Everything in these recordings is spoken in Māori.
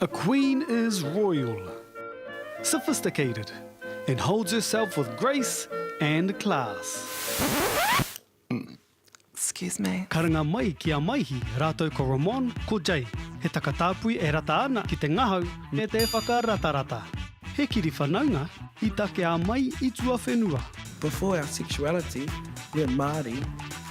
A queen is royal, sophisticated and holds herself with grace and class. Excuse me. Karanga mai ki a Maihi rātou ko Ramon, ko Jay, he takatāpui e rata ana ki te ngahau me te whakaratarata. He kiri whanaunga i takea mai i tuawhenua. Before our sexuality, we're Māori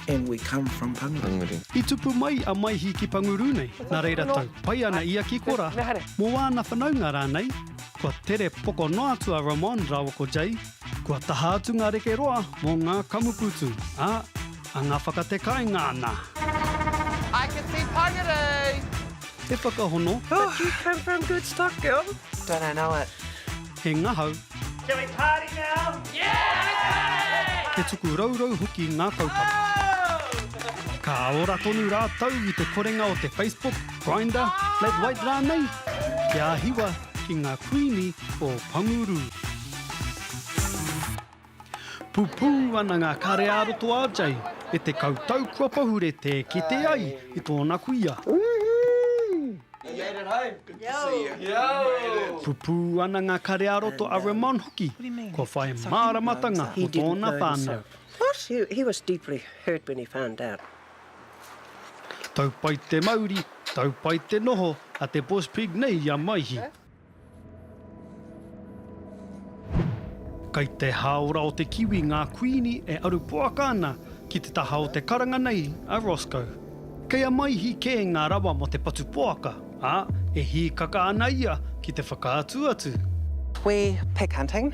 and we come from Panguru. I tupu mai a Maihi ki Panguru nei, nā reira tau pai ana ia ki Kora mō āna whanaunga rānei, kua tere poko noa atu a Ramon rāua ko Jay, kua taha atu ngā reke roa mō ngā kamupūtu, ā, anga whakate kāinga ana. I can see Panguru! Te whakahono. But you come from good stock, girl. Don't I know it. He ngahau. Shall we party now? Yeah! He tuku rourou hoki ngā kaupapa. Ka ora tonu rātou i te korenga o te Facebook, Grindr, Flat White rānei, kia hiwa ki ngā Kuini o Panguru. Pupū ana ngā kare ā roto a Jay e te kautau kua pahure tē kite ai i tōna kuia. Pupū ana ngā kare ā roto a Ramon hoki kua whai māramatanga mō tōna whānau. Tau pai te mauri, tau pai te noho a te boss pig nei i a Maihi. Kei te hāora o te kiwi ngā kuini e aru poaka ana ki te taha o te karanga nei a Roscoe. Kei a Maihi kē ngā rawa mō te patu poaka, ā, e hīkaka ana ia ki te whakaatu atu. Wee pig hunting.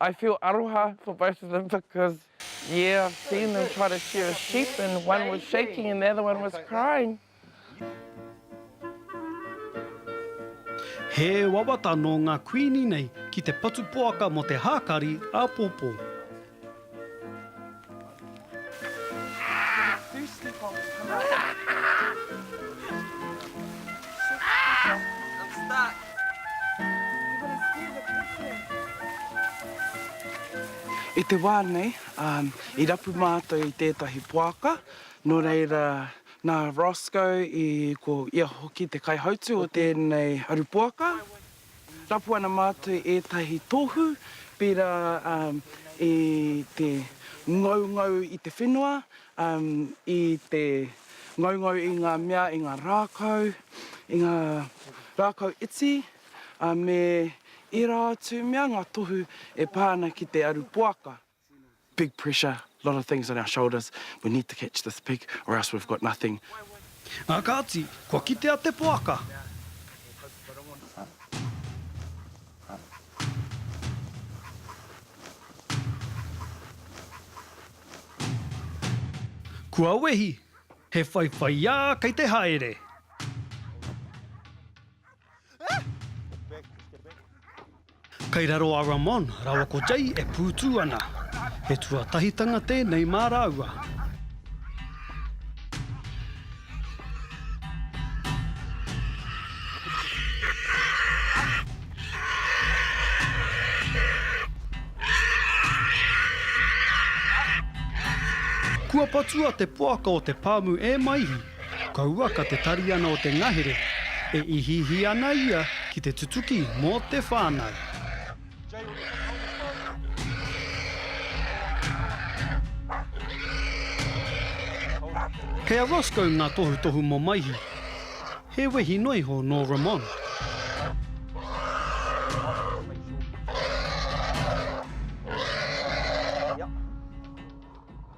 I feel aroha for both of them because yeah I've seen them try to shear a sheep and one was shaking and the other one was crying. He wawata nō ngā kuini nei ki te patu poaka mō te hākari āpōpō. I te wā nei, i rapu mātou i tētahi poaka, nō reira, nā Roscoe i, ko ia hoki te kaihautū o tēnei aru poaka. Rapu ana mātou ētahi tohu, pērā i te ngaungau i te whenua, i te ngaungau i ngā mea, i ngā rākau, i ngā rākau iti, me ērā atu mea, ngā tohu e pā ana ki te aru poaka. Big pressure, lot of things on our shoulders, we need to catch this pig or else we've got nothing. Nā kāti, kua kitea te poaka. Kua wehi, he whaiwhaiā kei te haere. Kei raro a Ramon rawa ko Jay e pūtū ana. He tuatahitanga tēnei mā rāua. Kua patua te poaka o te pāmu e Maihi. Kaua ka te tariana o te ngahere, e ihiihi ana ia ki te tutuki mō te whānau. Kei a Roscoe ngā tohutohu mō Maihi. He wehi noa iho nō Ramon.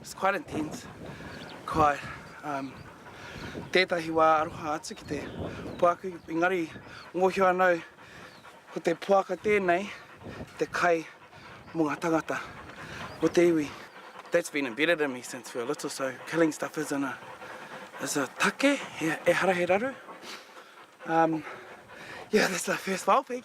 It's quite intense, kai tētahi wā aroha atu ki te puaku, engari mōhio anō ko te poaka tēnei te kai mō ngā tangata, mō te iwi. That's been embedded in me since we were little, so killing stuff is in a, is a take, ehara he raru. Um, yeah, that's our first wild pig.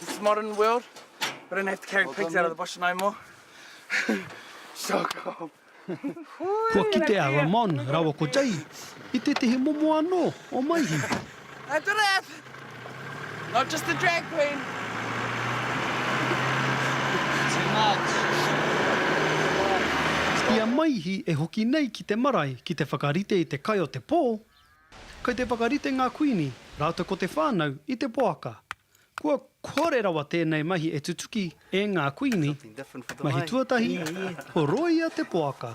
This modern world, we don't have to carry pigs out of the bush no more. so cool. Kua kite a Ramon rawa ko Jay i tētehi momo anō o Maihi. A giraffe! Not just a drag queen. Too much. I a Maihi e hoki nei ki te marae ki te whakarite i te kai o te pō, Kei te whakarite ngā kuini rātou ko te whānau i te poaka. Kua kore rawa tēnei mahi e tutuki e ngā kuini. Mahi tuatahi, ko rōia te poaka.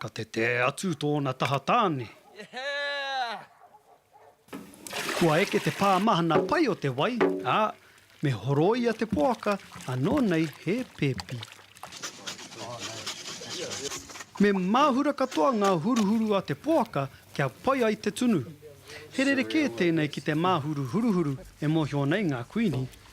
Ka tete atu tōna taha tāne. Kua eke te pā mahana pai o te wai, ā, me horoia te poaka anō nei he pēpi. Me māhura katoa ngā huruhuru a te poaka kia pai ai te tunu. He rerekē tēnei ki te māhuru huruhuru e mōhio nei ngā kuini.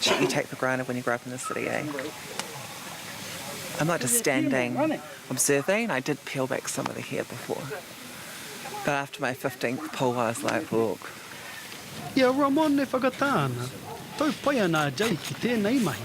shit you take for granted when you grow up in the city, eh? I'm not just standing, observing. I did peel back some of the hair before. But after my 15th pull, I was like, look. I a Ramon e whakatā ana, tau pai ana a Jake ki tēnei mahi.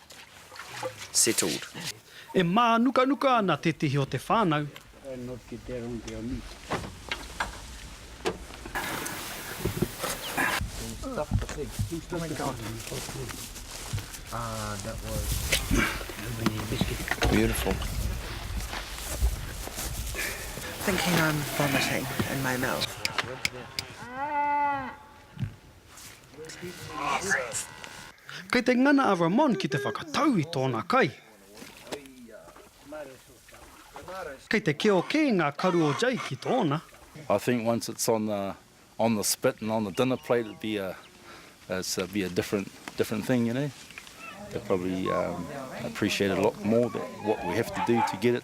settled. E mānukanuka ana tētehi o te whānau. Beautiful. Kei te ngana a Ramon ki te whakatau i tōna kai. Kei te keo kē ngā karu o Jake ki tōna. I think once it's on the on the spit and on the dinner plate it'd be a it'd be a different different thing you know they'd probably appreciate it a lot more than what we have to do to get it.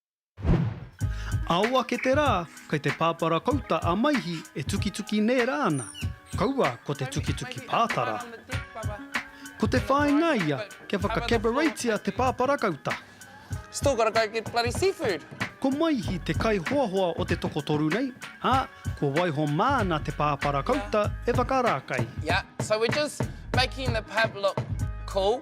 Ao ake te rā, kei te pāpara kouta a Maihi e tukituki nē rā ana, kaua ko te tukituki pātara. Ko te whāinga ia kia whaka-cabaretia te pāpara kouta. Still gotta go get bloody seafood! Ko Maihi te kaihoahoa o te tokotoru nei, ā, kua waiho māna te pāpara kouta e whakarākai. Yeah, so we're just making the pub look cool.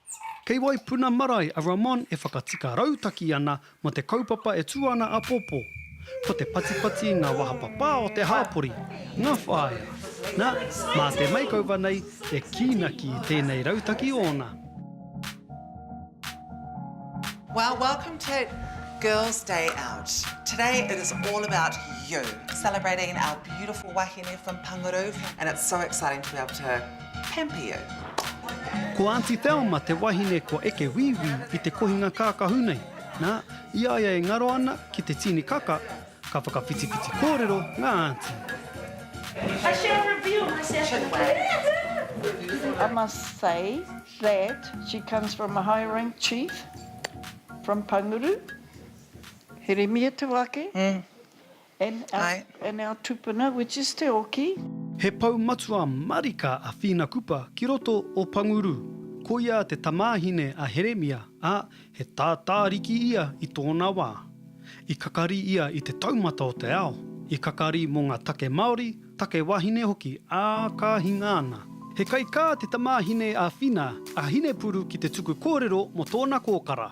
Kei Waipuna marae a Ramon e whakatika rautaki ana mō te kaupapa e tū ana āpōpō. Ko te patipati ngā wahapapā o te hāpori, ngā whāea. Nā, mā te maikauva nei e kīnaki i tēnei rautaki ōna. Well welcome to girls day out today it is all about you celebrating our beautiful wahine from Pangaroo and it's so exciting to be able to Pampeo. Ko Aunty Thelma te wahine kua eke wīwī i te kohinga kākahu nei, nā, i a ia e ngaro ana ki te tīni kaka, ka whakawhitiwhiti kōrero ngā aunty. I shall reveal myself in a way. I must say that she comes from a high rank chief from Panguru, Heremia te wake, and our tupuna which is Te Oki. He pou matua marika a Whina Kupa ki roto o Panguru. Ko ia te tamāhine a Heremia, ā, he tātāriki ia i tōna wā. I kakari ia i te taumata o te ao, i kakari mō ngā take Māori, take wāhine hoki, ā, ka hinga ana. He kaikā te tamāhine a Whina, a Hinepuru ki te tuku kōrero mō tōna kōkara.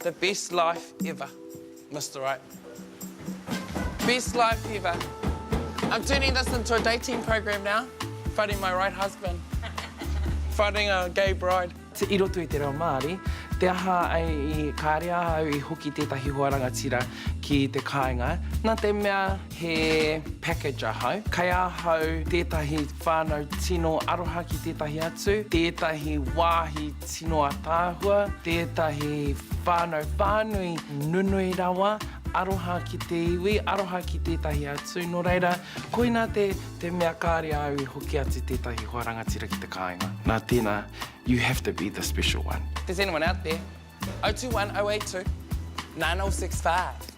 The best life ever Mister Right Best life ever I'm turning this into a dating program now Finding my right husband Finding a gay bride I roto i te reo Māori Te aha i kāre ahau i hoki tētahi hoa rangatira ki te kāinga Nā te mea he package ahau Kei ahau tētahi whānau tino aroha ki tētahi atu Tētahi wāhi Tino ataahua, tētahi whānau whānui nunui rawa, aroha ki te iwi, aroha ki tētahi atu, nō reira, koina te, te mea kāre au i hoki atu tētahi hoa rangatira ki te kāinga. Nā tēnā, you have to be the special one. If there's anyone out there, 021 082 9065.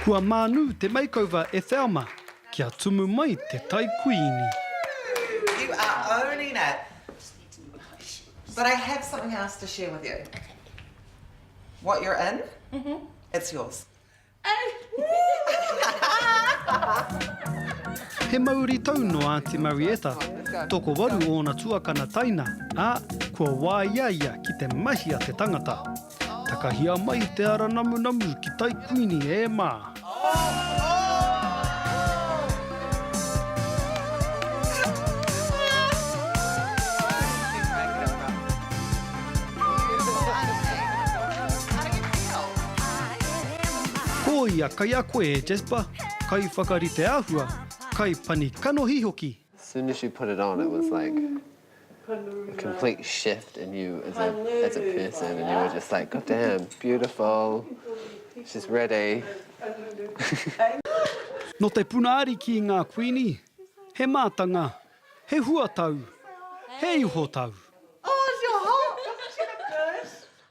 Kua mānu te makeover e Thelma. Kia tumu mai te tai kuini. You are owning it. But I have something else to share with you. What you're in, it's yours. He mauri tau nō Aunty Marietta, tokowaru ōna tuakana taina, ā, kua wāia ia ki te mahia te tangata. Takahia mai te ara namunamu ki tai Kuini e ma. Ko ia kai a koe e Jasper, kai whakarite ahua, kai pani kanohi hoki. As soon as she put it on it was like complete shift in you as a, as a person, and you were just like, God damn, beautiful, she's ready. Nō te puna ariki ngā kuini, he mātanga, he huatau, he ihotau.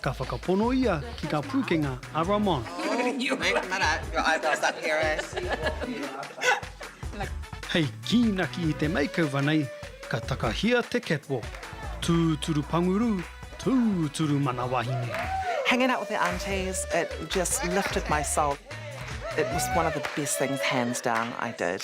Ka whakapono ia ki ngā pūkenga a Ramon. Hei kīnaki i te makeover nei, ka takahia te catwalk. Tūturu panguru, tūturu mana wahine. Hanging out with the aunties, it just lifted my soul. It was one of the best things hands down I did.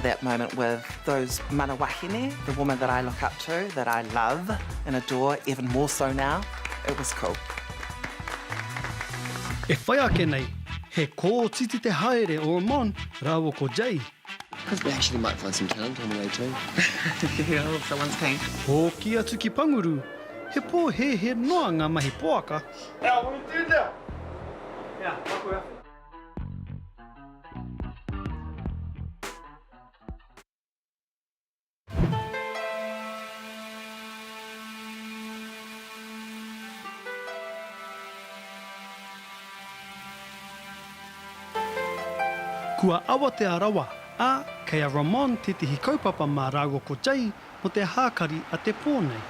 That moment with those mana wahine, the woman that I look up to, that I love and adore even more so now, it was cool. E whai ake nei, he kōtiti te haere o Amon rāua ko Jay Hoki atu ki Panguru, he pōhēhē noa ngā mahi poaka. Kua awatea rawa, ā, kei a Ramon tētehi kaupapa mā rāua ko Jay mō te hākari a te pō nei.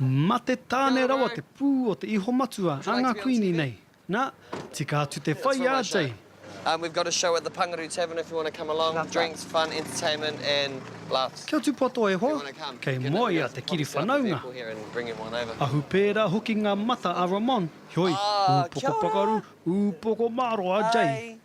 Mate tāne rawa te pū o te ihomatua a ngā kuini nei. Nā, tika atu te whai a Jay. Kia tūpato e hoa, kei moea te kiri whanaunga. Ahu pērā hoki ngā mata a Ramon, heoi, ūpoko pakaru, ūpoko mārō a Jay.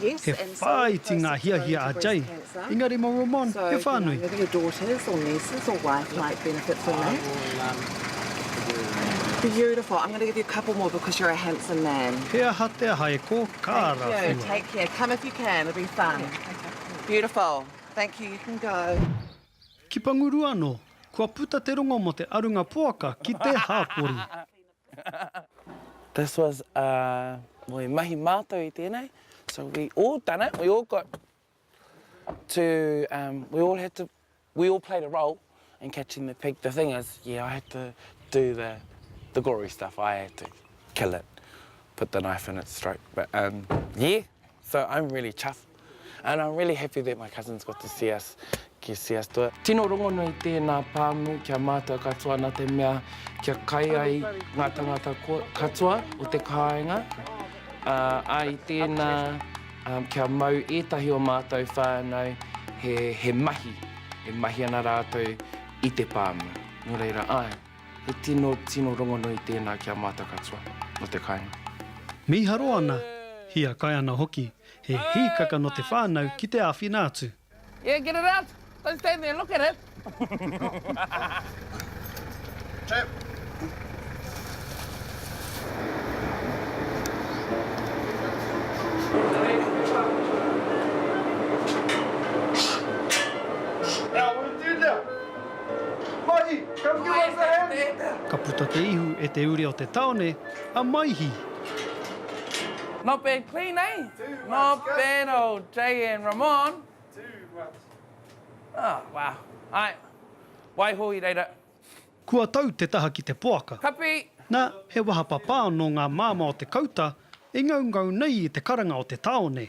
He whāiti ngā hiahia a Jay, engari mō Ramon he whānui. He aha te aha e kō, ka rawhina. Ki Panguru anō, kua puta te rongo mō te arunga poaka ki te hāpori. This was a we mahi mātou i tēnei, so we all done it, we all got to, um we all had to, we all played a role in catching the pig. The thing is, yeah, I had to do the the gory stuff, I had to kill it, put the knife in its throat, but um yeah, so I'm really chuffed. And I'm really happy that my cousins got to see us ki see us do it. Tino rongonui tēnā pāmu kia mātou katoa na te mea kia kai ai ngā tangata katoa o te kāinga. Ā i tēnā kia mau ētahi o mātou whānau he he mahi e mahi ana rātou i te pāmu. Nō reira āe, he tino tino rongonui tēnā ki a mātou katoa o te kāinga. Mīharo ana, hiakai ana hoki He hīkaka nō te whānau ki te āwhina atu. Yeah, get it out! Don't stand there and look at it! Tap! Ka puta te ihu e te ure o te taone. a Maihi. Not bad clean eh? Not bad old JN Ramon. Oh wow. Ae. Waiho i reira. Kua tau te taha ki te poaka. Kapi! Na, he wahapapā nō ngā māmā o te kauta e ngaungau nei i te karanga o te tāone.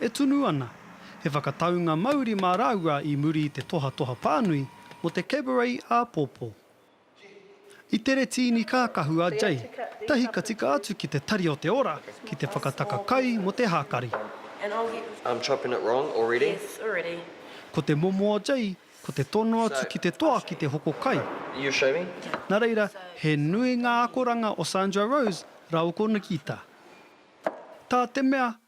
E tunu ana he whakataunga mauri mā rāua i muri i te tohatoha pānui mō te Cabaret āpōpō. I tere tīni kākahu a Jay, tahi ka tika atu ki te Tari o te Ora ki te whakataka kai mō te hākari. Ko te momo o Jay, ko te tono atu ki te toa ki te hoko kai. Nā reira, he nui ngā akoranga o Sandra Rose rāua ko Nikita. Tā te mea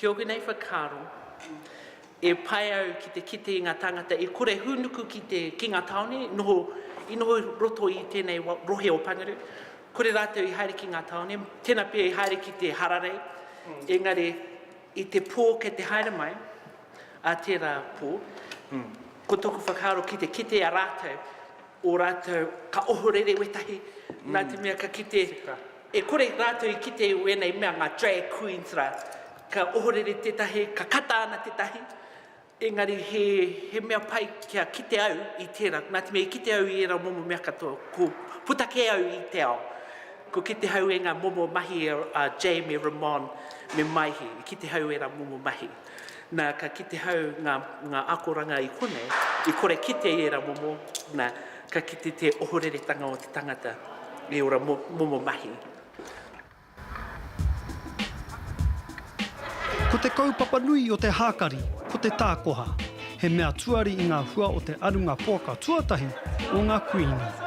Heoi nei whakaaro, e pai au ki te kite i nga tangata e kore hunuku ki te ki nga taone i noho i noho i roto i tenei rohe o Pangaru, kore ratou i haere ki nga taone, tena pea i haere ki te hararei, engari i te po kei te haere mai a tera po, ko toku whakaaro ki te kite a ratou, o ratou ka ohorere wetahi na te mea ka kite E kore rātou i kite i wēnei mea ngā drag queens rā. Ka ohorere tētahi, ka kata ana tētahi, engari he, he mea pai kia kite au i tērā. Nā te mea i kite au i ērā momo mea katoa, ko puta kē au i te ao. Ko kite hau e ngā momo mahi a Jay me Ramon me Maihi, i kite hau ērā momo mahi. Nā, ka kite hau ngā, ngā akoranga i konei, i kore kite i ērā momo, nā, ka kite te ohoreretanga o te tangata i ora mo, momo mahi. Ko te kaupapa nui o te hākari ko te tākoha, he mea tuari i ngā hua o te arunga poaka tuatahi o ngā Kuini.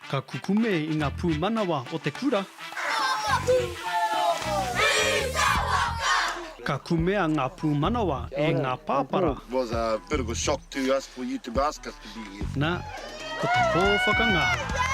Ka kukume i nga pumanawa o te kura. Ka kukume i te waka. Ka kumea nga pumanawa e nga papara. It was a bit of a shock to us for you to ask us to be here. Na, ko te po whakangahau.